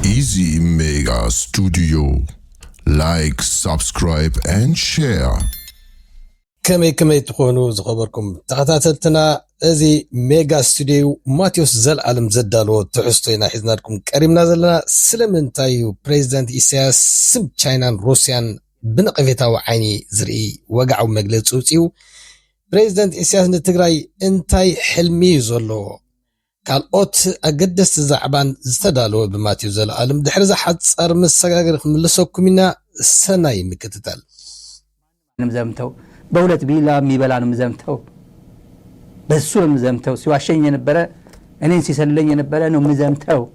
Easy Mega Studio. Like, subscribe, and share. ከመይ ከመይ ትኾኑ ዝኸበርኩም ተኸታተልትና እዚ ሜጋ ስቱድዮ ማቴዎስ ዘልኣለም ዘዳለዎ ትሕዝቶ ኢና ሒዝናልኩም ቀሪብና ዘለና ስለምንታይ እዩ ፕሬዚደንት ኢሳያስ ስም ቻይናን ሩስያን ብነቐፌታዊ ዓይኒ ዝርኢ ወግዓዊ መግለጺ ኣውጺኡ። ፕረዚደንት ኢሳያስ ንትግራይ እንታይ ሕልሚ'ዩ ዘለዎ? ካልኦት ኣገደስቲ ዛዕባን ዝተዳለወ ብማቴዎስ ዘለኣለም ድሕሪ'ዛ ሓጻር መሰጋገሪ ክንምልሰኩም ኢና፣ ሰናይ ምክትታል። ምዘምተው በሁለት ቢላ ሚበላ ነው ምዘምተው በሱ ነው ምዘምተው ሲዋሸኝ የነበረ እኔን ሲሰልለኝ የነበረ ነው ምዘምተው።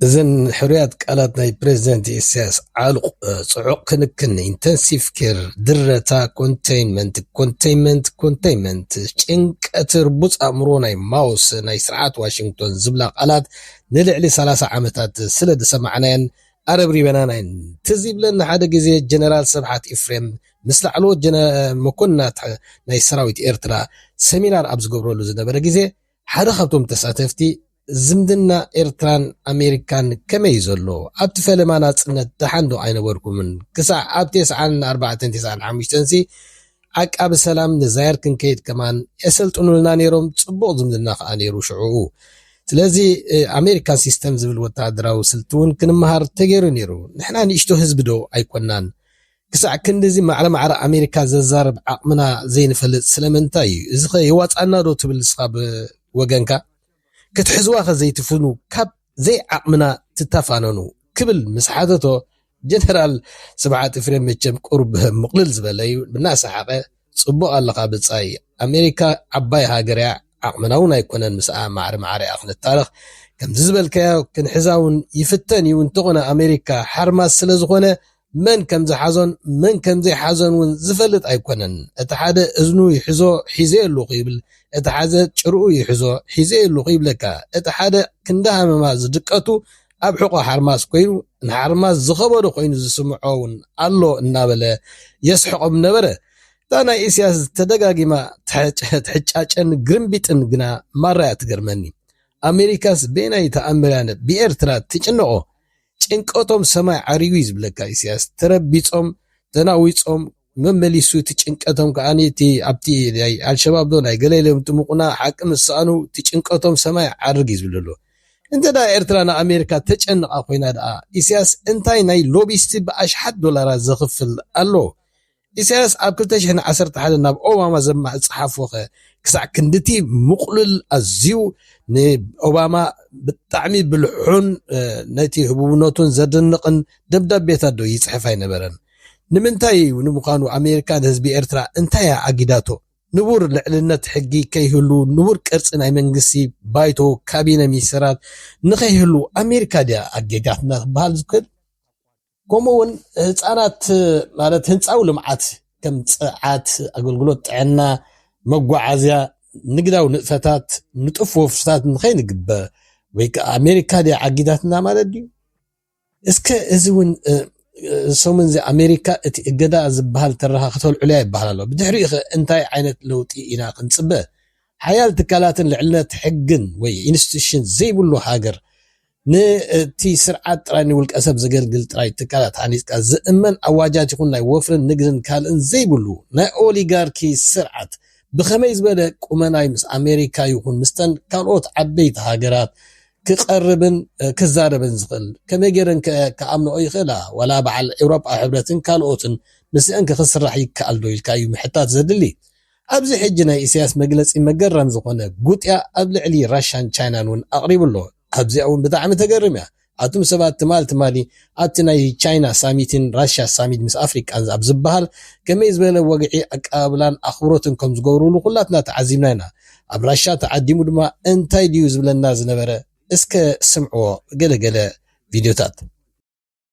እዘን ሕሩያት ቃላት ናይ ፕረዚደንት ኢሳያስ ዓሉቕ ጽዑቕ ክንክን፣ ኢንተንሲቭ ኬር፣ ድረታ፣ ኮንተይንመንት፣ ኮንተይመንት፣ ኮንተይመንት፣ ጭንቀት፣ ርቡጽ ኣእምሮ ናይ ማውስ፣ ናይ ስርዓት ዋሽንግቶን ዝብላ ቃላት ንልዕሊ ሰላሳ ዓመታት ስለ ዝሰማዕናየን ኣረብሪበናን ኣየን። ትዝ ይብለኒ ሓደ ግዜ ጀነራል ስብሓት ኢፍሬም ምስ ላዕለዎት መኮንናት ናይ ሰራዊት ኤርትራ ሰሚናር ኣብ ዝገብረሉ ዝነበረ ግዜ ሓደ ካብቶም ተሳተፍቲ ዝምድና ኤርትራን ኣሜሪካን ከመይ እዩ ዘሎ? ኣብቲ ፈለማ ናጽነት ደሓን ዶ ኣይነበርኩምን? ክሳዕ ኣብ ቴስዓን ኣርባዕተን ቴስዓን ሓሙሽተንሲ ዓቃቢ ሰላም ንዛየር ክንከይድ ከማን የሰልጥኑልና ነይሮም፣ ጽቡቕ ዝምድና ከኣ ነይሩ ሽዑኡ። ስለዚ ኣሜሪካን ሲስተም ዝብል ወተሃደራዊ ስልቲ እውን ክንመሃር ተገይሩ ነይሩ። ንሕና ንእሽቶ ህዝቢ ዶ ኣይኮናን? ክሳዕ ክንድዚ ማዕረ ማዕረ ኣሜሪካ ዘዛርብ ዓቕምና ዘይንፈልጥ ስለምንታይ እዩ? እዚኸ የዋጽኣና ዶ ትብል ንስኻ ብወገንካ? ክትሕዝዋኸ ዘይትፍኑ ካብ ዘይዓቕምና ትታፋነኑ ክብል ምስ ሓተቶ ጀነራል ስብሓት ኢፍሬም መቸም ቁሩብ ምቕልል ዝበለ'ዩ እናሰሓቐ ጽቡቕ ኣለኻ ብጻይ ኣሜሪካ ዓባይ ሃገር'ያ ዓቕምና'ውን ኣይኮነን ምስኣ ማዕረ ማዕረ'ያ ክንታረኽ ከምዚ ዝበልካዮ ክንሕዛ'ውን ይፍተን'ዩ እንተኾነ ኣሜሪካ ሓርማዝ ስለዝኾነ መን ከም ዝሓዞን መን ከም ዘይሓዞን ውን ዝፈልጥ ኣይኮነን። እቲ ሓደ እዝኑ ይሕዞ ሒዘዮ ኣለኹ ይብል፣ እቲ ሓዘ ጭርኡ ይሕዞ ሒዘዮ ኣለኹ ይብለካ። እቲ ሓደ ክንዲ ሃመማ ዝድቀቱ ኣብ ሕቖ ሓርማዝ ኮይኑ ንሓርማዝ ዝኸበዶ ኮይኑ ዝስምዖ ውን ኣሎ እናበለ የስሕቖም ነበረ። እታ ናይ ኢሲያስ ተደጋጊማ ትሕጫጨን ግርምቢጥን ግና ማራ'ያ ትገርመኒ። ኣሜሪካስ በየናይ ተኣምር'ያ ብኤርትራ ትጭነቖ? ጭንቀቶም ሰማይ ዓሪጉ እዩ ዝብለካ ኢሰያስ ተረቢጾም ተናዊጾም መመሊሱ እቲ ጭንቀቶም ከኣ እቲ ኣብቲ ናይ ኣልሸባብ ዶ ናይ ገለ ኢሎም ጥሙቁና ሓቂ ምስ ሰኣኑ እቲ ጭንቀቶም ሰማይ ይዓርግ እዩ ዝብሎ ኣሎ እንተ ደኣ ኤርትራ ንኣሜሪካ ተጨንቓ ኮይና ደኣ ኢሰያስ እንታይ ናይ ሎቢስቲ ብኣሽሓት ዶላራት ዘኽፍል ኣሎ ኢሳያስ ኣብ ክልተ ሽሕን ዓሰርተ ሓደን ናብ ኦባማ ዝጸሓፎኸ ክሳዕ ክንድቲ ምቕሉል ኣዝዩ ንኦባማ ብጣዕሚ ብልሑን ነቲ ህቡብነቱን ዘድንቕን ደብዳቤታት ዶ ይጽሕፍ ኣይነበረን? ንምንታይ እዩ ንምዃኑ ኣሜሪካ ንህዝቢ ኤርትራ እንታይ እያ ኣጊዳቶ? ንቡር ልዕልነት ሕጊ ከይህሉ፣ ንቡር ቅርጺ ናይ መንግስቲ፣ ባይቶ፣ ካቢነ ሚኒስተራት ንኸይህሉ ኣሜሪካ ድያ ኣጌጋትና ክበሃል ዝክእል? ከምኡ እውን ህፃናት ማለት ህንፃዊ ልምዓት ከም ፅዓት፣ ኣገልግሎት ጥዕና፣ መጓዓዝያ፣ ንግዳዊ ንጥፈታት ንጡፍ ወፍርታት ንኸይንግበር ወይ ከዓ ኣሜሪካ ድያ ዓጊታትና ማለት ድዩ? እስከ እዚ እውን ሰሙን እዚ ኣሜሪካ እቲ እገዳ ዝበሃል ተረኻ ከተልዕሎ እያ ይበሃል ኣሎ። ብድሕሪኡ ኸ እንታይ ዓይነት ለውጢ ኢና ክንፅበ? ሓያል ትካላትን ልዕልነት ሕግን ወይ ኢንስቲቱሽን ዘይብሉ ሃገር ንቲ ስርዓት ጥራይ ንውልቀ ሰብ ዘገልግል ጥራይ ትካላት ሃኒጽካ ዝእመን ኣዋጃት ይኹን ናይ ወፍርን ንግድን ካልእን ዘይብሉ ናይ ኦሊጋርኪ ስርዓት ብኸመይ ዝበለ ቁመና'ዩ ምስ ኣሜሪካ ይኹን ምስተን ካልኦት ዓበይቲ ሃገራት ክቀርብን ክዛረብን ዝኽእል ከመይ ጌረንከ ክኣምንኦ ይኽእላ ዋላ በዓል ኤውሮጳዊ ሕብረትን ካልኦትን ምስእንከ ክስራሕ ይከኣልዶ ኢልካ'ዩ ምሕታት ዘድሊ ኣብዚ ሕጂ ናይ ኢሰያስ መግለጺ መገረም ዝኾነ ጉጥያ ኣብ ልዕሊ ራሻን ቻይናን ውን ኣቅሪቡ ኣሎ ኣብዚኣ ውን ብጣዕሚ ተገርም እያ ኣቱም ሰባት ትማል ትማሊ ኣብቲ ናይ ቻይና ሳሚትን ራሻ ሳሚት ምስ ኣፍሪቃን ኣብ ዝብሃል ከመይ ዝበለ ወግዒ ኣቀባብላን ኣኽብሮትን ከም ዝገብሩሉ ኩላትና ተዓዚብና ኢና ኣብ ራሻ ተዓዲሙ ድማ እንታይ ድዩ ዝብለና ዝነበረ እስከ ስምዕዎ ገለ ገለ ቪድዮታት።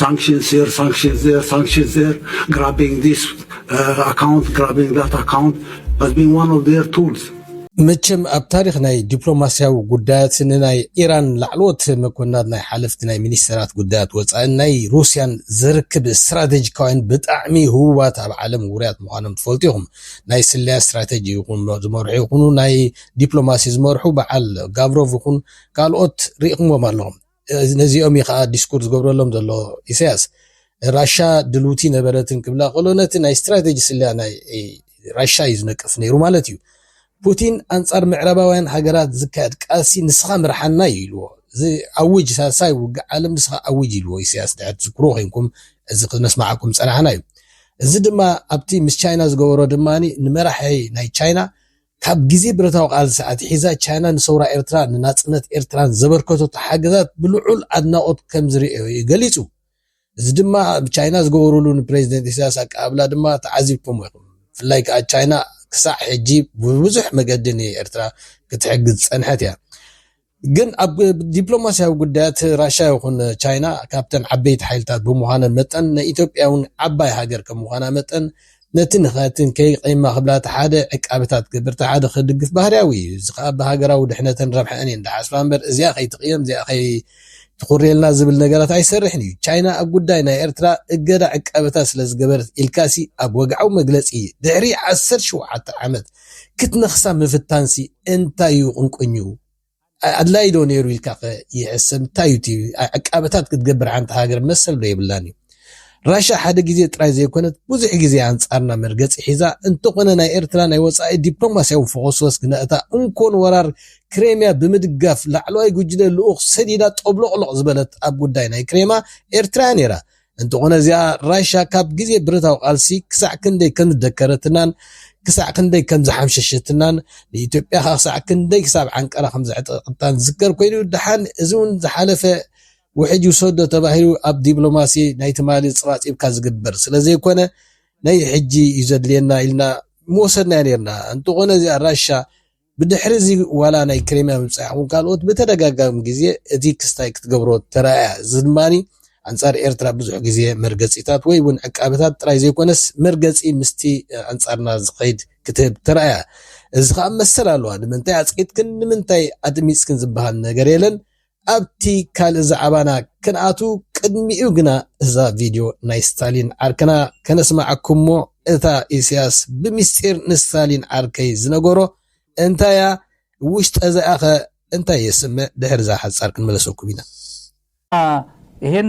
ሳንክሽንስ ሂር ሳንክሽንስ ዜር ሳንክሽንስ ዜር ግራቢንግ ዚስ ኣካውንት ግራቢንግ ዛት ኣካውንት ሃዝ ቢን ዋን ኦፍ ዜር ቱልስ መቸም ኣብ ታሪክ ናይ ዲፕሎማስያዊ ጉዳያት ንናይ ኢራን ላዕለዎት መኮንናት ናይ ሓለፍቲ ናይ ሚኒስተራት ጉዳያት ወፃእን ናይ ሩስያን ዘርክብ ስትራቴጂካውያን ብጣዕሚ ህቡባት ኣብ ዓለም ውርያት ምዃኖም ትፈልጡ ኢኹም። ናይ ስለያ ስትራቴጂ ይኹን ዝመርሑ ይኹኑ ናይ ዲፕሎማሲ ዝመርሑ በዓል ጋቭሮቭ ይኹን ካልኦት ርኢኹምዎም ኣለኹም። ነዚኦም እዩ ከዓ ዲስኩር ዝገብረሎም ዘሎ ኢሳያስ ራሻ ድልውቲ ነበረትን ክብላ ከሎ ነቲ ናይ ስትራቴጂ ስለያ ናይ ራሻ እዩ ዝነቅፍ ነይሩ ማለት እዩ ፑቲን ኣንጻር ምዕራባውያን ሃገራት ዝካየድ ቃልሲ ንስኻ ምርሓና እዩ ኢልዎ እዚ ኣውጅ ሳልሳይ ውግእ ዓለም ንስኻ ኣውጅ ኢልዎ ኢሳያስ ድሕር ትዝክሩ ኮይንኩም እዚ ክነስማዓኩም ጸናሕና እዩ እዚ ድማ ኣብቲ ምስ ቻይና ዝገበሮ ድማ ንመራሒ ናይ ቻይና ካብ ግዜ ብረታዊ ቃልሲ ኣትሒዛ ቻይና ንሰውራ ኤርትራን ንናጽነት ኤርትራን ዘበርከተቶ ሓገዛት ብልዑል ኣድናቖት ከም ዝርእዮ'ዩ ገሊጹ። እዚ ድማ ኣብ ቻይና ዝገበሩሉ ንፕረዚደንት ኢሳያስ ኣቀባብላ ድማ ተዓዚብኩሞ ኢኹም። ብፍላይ ከኣ ቻይና ክሳዕ ሕጂ ብብዙሕ መገዲ ንኤርትራ ክትሕግዝ ዝጸንሐት እያ። ግን ኣብ ዲፕሎማስያዊ ጉዳያት ራሻ ይኹን ቻይና ካብተን ዓበይቲ ሓይልታት ብምዃነን መጠን ንኢትዮጵያውን ዓባይ ሃገር ከም ምዃና መጠን ነቲ ንኸትንከይ ቐይማ ክብላ ተሓደ ዕቃበታት ክገብር ተሓደ ክድግፍ ባህርያዊ እዩ። እዚ ከኣ ብሃገራዊ ድሕነተን ረብሐኣን እየን ድሓስባ እምበር እዚኣ ከይትቕየም እዚኣ ከይ ትኹርየልና ዝብል ነገራት ኣይሰርሕን እዩ። ቻይና ኣብ ጉዳይ ናይ ኤርትራ እገዳ ዕቃበታት ስለ ዝገበረት ኢልካሲ ኣብ ወግዓዊ መግለጺ ድሕሪ ዓሰርተ ሸውዓተ ዓመት ክትነኽሳ ምፍታንሲ እንታይ እዩ ቁንቁኙ? ኣድላይ ዶ ነይሩ ኢልካኸ ይሕሰብ? እንታይ እዩ እቲ ዕቃበታት ክትገብር ሓንቲ ሃገር መሰል ዶ የብላን እዩ? ራሻ ሓደ ግዜ ጥራይ ዘይኮነት ብዙሕ ግዜ ኣንጻርና መርገጺ ሒዛ እንተኾነ ናይ ኤርትራ ናይ ወጻኢ ዲፕሎማስያዊ ፎኾስወስ ግና'ታ እንኮ ንወራር ክሬምያ ብምድጋፍ ላዕለዋይ ጉጅለ ልኡኽ ሰዲዳ ጦብሎቕሎቕ ዝበለት ኣብ ጉዳይ ናይ ክሬማ ኤርትራ'ያ ነይራ። እንተኾነ እዚኣ ራሻ ካብ ግዜ ብረታዊ ቃልሲ ክሳዕ ክንደይ ከም ዝደከረትናን ክሳዕ ክንደይ ከም ዝሓምሸሸትናን ንኢትዮጵያ ከ ክሳዕ ክንደይ ክሳብ ዓንቀራ ከም ዘዕጠቐታን ዝዝከር ኮይኑ ድሓን እዚ እውን ዝሓለፈ ውሕጅ ይውሰዶ ተባሂሉ ኣብ ዲፕሎማሲ ናይ ትማሊ ጽባጺብካ ዝግበር ስለ ዘይኮነ ናይ ሕጂ እዩ ዘድልየና ኢልና ምወሰድናዮ ነርና እንተኾነ እዚኣ ራሻ ብድሕሪ እዚ ዋላ ናይ ክሬምያ ምብጻሕ ይኹን ካልኦት ብተደጋጋሚ ግዜ እቲ ክስታይ ክትገብሮ ተራእያ፣ እዚ ድማ ኣንጻር ኤርትራ ብዙሕ ግዜ መርገጺታት ወይ ውን ዕቃበታት ጥራይ ዘይኮነስ መርገጺ ምስቲ ኣንጻርና ዝኸይድ ክትህብ ተራእያ። እዚ ከኣ መሰል ኣለዋ ንምንታይ ኣጽቂጥክን ንምንታይ ኣድሚጽክን ዝበሃል ነገር የለን ኣብቲ ካልእ ዛዕባና ክንኣቱ ቅድሚኡ ግና እዛ ቪድዮ ናይ ስታሊን ዓርክና ከነስማዓኩም'ሞ እታ ኢሰያስ ብሚስጢር ንስታሊን ዓርከይ ዝነገሮ እንታይ'ያ ውሽጠዘ'ያ'ኸ እንታይ የስምዕ ድሕሪ'ዛ ሓጻር ክንምለሰኩም ኢና። ኢሄን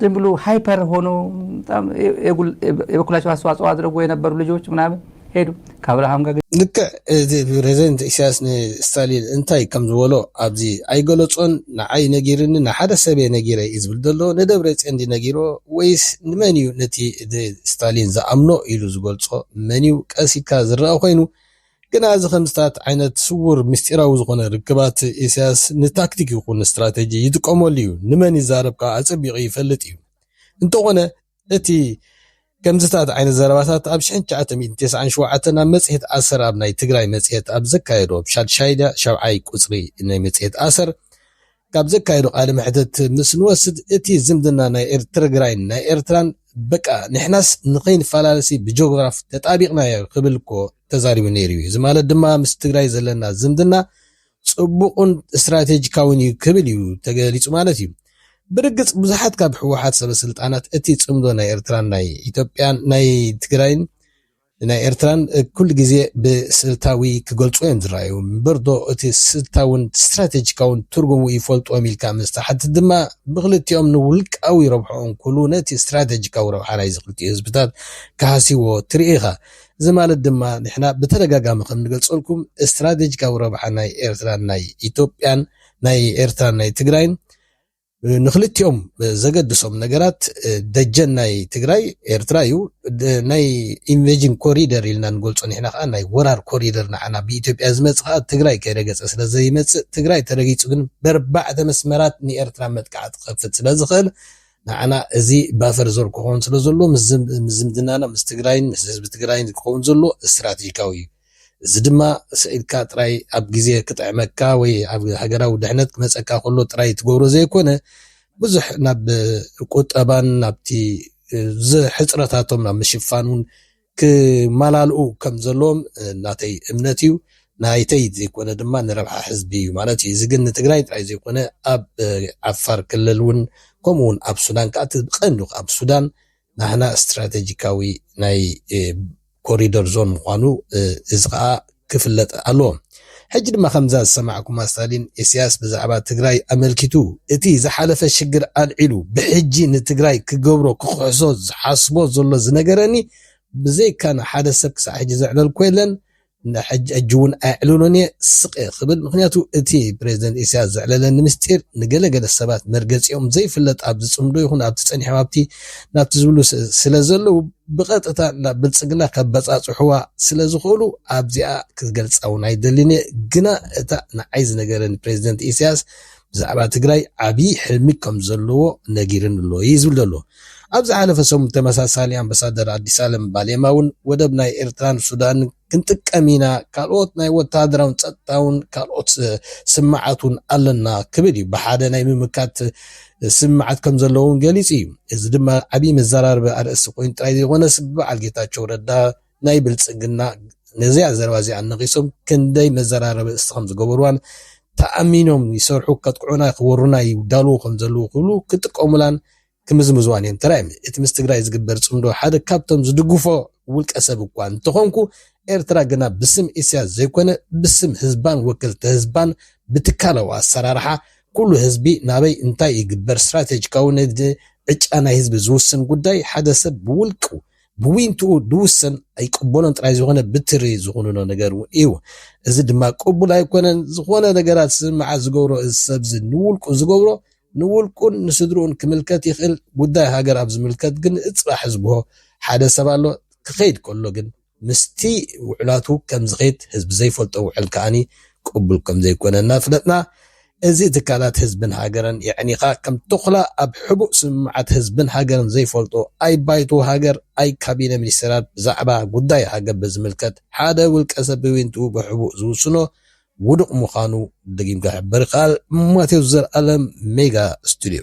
ዝም ብሉ ሃይፐር ሆኖ በጣም የ- የጉል- የ- የበኩላቸው አስተዋጽኦ አድርጎ የነበሩ ልጆች ምናምን ሄዱ ከአብርሃም ጋር ልክዕ እቲ ፕረዚደንት ኢሳያስ ንስታሊን እንታይ ከም ዝበሎ ኣብዚ ኣይገለጾን ንዓይ ነጊርኒ ንሓደ ሰብ እየ ነጊረ እዩ ዝብል ዘሎ ንደብረጽዮን ድዩ ነጊሮ ወይስ ንመን እዩ ነቲ እቲ ስታሊን ዝኣምኖ ኢሉ ዝገልጾ መን እዩ ቀስ ኢልካ ዝረኣ ኮይኑ ግና እዚ ከምዚታት ዓይነት ስዉር ምስጢራዊ ዝኾነ ርክባት ኢሳያስ ንታክቲክ ይኹን ስትራተጂ ይጥቀመሉ እዩ። ንመን ይዛረብ ከኣ ኣጸቢቑ ይፈልጥ እዩ። እንተኾነ እቲ ከምዚታት ዓይነት ዘረባታት ኣብ ሽሕን ትሽዓተ ሚእትን ተስዓን ሸውዓተን ኣብ መጽሔት ኣሰር ኣብ ናይ ትግራይ መጽሔት ኣብ ዘካየዶ ብ ሻድሻይ ድያ ሻብዓይ ቁጽሪ ናይ መጽሔት ኣሰር ካብ ዘካየዶ ቃለ መሕተት ምስ ንወስድ እቲ ዝምድና ናይ ኤርትርግራይን ናይ ኤርትራን በቃ ንሕናስ ንኸይንፈላለሲ ብጆግራፍ ተጣቢቕናዮ ክብል እኮ ተዛሪቡ ነይሩ እዩ እዚ ማለት ድማ ምስ ትግራይ ዘለና ዝምድና ጽቡቕን እስትራቴጂካዊን እዩ ክብል እዩ ተገሊጹ ማለት እዩ ብርግጽ ብዙሓት ካብ ህወሓት ሰበስልጣናት እቲ ጽምዶ ናይ ኤርትራን ናይ ኢትዮጵያን ናይ ትግራይን ንናይ ኤርትራን ኩሉ ግዜ ብስልታዊ ክገልጹዎ እዮም ዝረኣዩ። እምበርዶ እቲ ስልታውን ስትራተጂካውን ትርጉሙ ይፈልጡዎም ኢልካ ምስ ትሓትት ድማ ብክልቲኦም ንውልቃዊ ረብሕኦም ኩሉ ነቲ ስትራተጂካዊ ረብሓ ናይዚ ክልቲኡ ህዝብታት ክሃስዩዎ ትርኢ ኢኻ። እዚ ማለት ድማ ንሕና ብተደጋጋሚ ከም ንገልጸልኩም ስትራተጂካዊ ረብሓ ናይ ኤርትራን ናይ ኢትዮጵያን ናይ ኤርትራን ናይ ትግራይን ንክልቲኦም ዘገድሶም ነገራት ደጀን ናይ ትግራይ ኤርትራ እዩ። ናይ ኢንቨጅን ኮሪደር ኢልና ንገልጾ ንሕና ከኣ ናይ ወራር ኮሪደር ንዓና ብኢትዮጵያ ዝመጽእ ከኣ ትግራይ ከይረገጸ ስለ ዘይመጽእ ትግራይ ተረጊጹ ግን በርባዕተ መስመራት ንኤርትራ መጥቃዕቲ ክኸፍት ስለ ዝኽእል ንዓና እዚ ባፈር ዞን ክኸውን ስለ ዘለዎ ምስ ዝምድናና ምስ ትግራይን ምስ ህዝቢ ትግራይን ክኸውን ዘለዎ እስትራቴጂካዊ እዩ። እዚ ድማ ስዒድካ ጥራይ ኣብ ግዜ ክጥዕመካ ወይ ኣብ ሃገራዊ ድሕነት ክመጸካ ከሎ ጥራይ ትገብሮ ዘይኮነ ብዙሕ ናብ ቁጠባን ናብቲ ሕጽረታቶም ናብ ምሽፋን ውን ክመላልኡ ከም ዘለዎም ናተይ እምነት እዩ። ናይተይ ዘይኮነ ድማ ንረብሓ ሕዝቢ እዩ ማለት እዩ። እዚ ግን ንትግራይ ጥራይ ዘይኮነ ኣብ ዓፋር ክልል ውን ከምኡ ውን ኣብ ሱዳን ከኣ እቲ ቀንዲ ኣብ ሱዳን ናህና ስትራተጂካዊ ናይ ኮሪደር ዞን ምዃኑ እዚ ከዓ ክፍለጥ ኣለዎ። ሕጂ ድማ ከምዛ ዝሰማዕኩማ ስታሊን ኢስያስ ብዛዕባ ትግራይ ኣመልኪቱ እቲ ዝሓለፈ ሽግር ኣልዒሉ ብሕጂ ንትግራይ ክገብሮ ክክሕሶ ዝሓስቦ ዘሎ ዝነገረኒ ብዘይካና ሓደ ሰብ ክሳዕ ሕጂ ዘዕለልኩ የለን ንሕጂ ሕጂ እውን ኣየዕልሎን እየ ስቕ እየ ክብል ምኽንያቱ እቲ ፕረዚደንት ኢሳያስ ዘዕለለኒ ምስጢር ንገለ ገለ ሰባት መርገጺኦም ዘይፍለጥ ኣብዚ ጽምዶ ይኹን ኣብቲ ጸኒሖም ኣብቲ ናብቲ ዝብሉ ስለ ዘለዉ ብቐጥታ ናብ ብልጽግና ከበጻጽሑዋ ስለ ዝኽእሉ ኣብዚኣ ክትገልጻ እውን ኣይደልን እየ ግና እታ ንዓይ ዝነገረኒ ፕረዚደንት ኢሳያስ ብዛዕባ ትግራይ ዓብዪ ሕልሚ ከም ዘለዎ ነጊሩኒ ኣሎ እዩ ዝብል ዘሎ። ኣብ ዝሓለፈ ሰሙን ብተመሳሳሊ ኣምበሳደር ኣዲስኣለም ባሌማ እውን ወደብ ናይ ኤርትራን ሱዳንን ክንጥቀም ኢና፣ ካልኦት ናይ ወተሃደራውን ጸጥታውን ካልኦት ስምምዓት እውን ኣለና ክብል እዩ። ብሓደ ናይ ምምካት ስምምዓት ከም ዘለዎ እውን ገሊጹ እዩ። እዚ ድማ ዓብዪ መዘራረቢ ኣርእስቲ ኮይኑ ጥራይ ዘይኮነስ ብበዓል ጌታቸው ረዳ ናይ ብልጽግና ነዚኣ ዘረባ እዚኣ ነቒሶም ክንደይ መዘራረቢ እስቲ ከም ዝገበርዋን ተኣሚኖም ይሰርሑ ከጥቅዑና ክወሩና ይዳልዉ ከም ዘለዉ ክብሉ ክጥቀሙላን ክምዝምዝዋን እዮም ተራእዮም። እቲ ምስ ትግራይ ዝግበር ጽምዶ ሓደ ካብቶም ዝድግፎ ውልቀ ሰብ እኳ እንተኾንኩ ኤርትራ ግና ብስም ኢሳያስ ዘይኮነ ብስም ህዝባን ወከልቲ ህዝባን ብትካላዊ ኣሰራርሓ ኩሉ ህዝቢ ናበይ እንታይ ይግበር ስትራቴጂካዊ ንግዲ ዕጫ ናይ ህዝቢ ዝውስን ጉዳይ ሓደ ሰብ ብውልቁ ብዊንትኡ ድውሰን ኣይቅበሎን ጥራይ ዝኾነ ብትሪ ዝኹንኖ ነገር እውን እዩ። እዚ ድማ ቅቡል ኣይኮነን። ዝኾነ ነገራት ስምምዓት ዝገብሮ እዚ ሰብዚ ንውልቁ ዝገብሮ ንውልቁን ንስድርኡን ክምልከት ይኽእል። ጉዳይ ሃገር ኣብ ዝምልከት ግን ንእጽባሕ ዝብሆ ሓደ ሰብ ኣሎ። ክኸይድ ከሎ ግን ምስቲ ውዕላቱ ከም ዝኸይድ ህዝቢ ዘይፈልጦ ውዕል ከኣ ቅቡል ከም ዘይኮነ እናፍለጥና እዚ ትካላት ህዝብን ሃገርን የዕኒኻ ከም ቶኽላ ኣብ ሕቡእ ስምምዓት ህዝብን ሃገርን ዘይፈልጡ ኣይ ባይቶ ሃገር ኣይ ካቢነ ሚኒስተራት ብዛዕባ ጉዳይ ሃገር ብዝምልከት ሓደ ውልቀ ሰብ ብዊንትኡ ብሕቡእ ዝውስኖ ውዱቕ ምዃኑ ደጊምካ ይሕብር ይከኣል ማቴዎስ ዘልኣለም ሜጋ ስቱድዮ።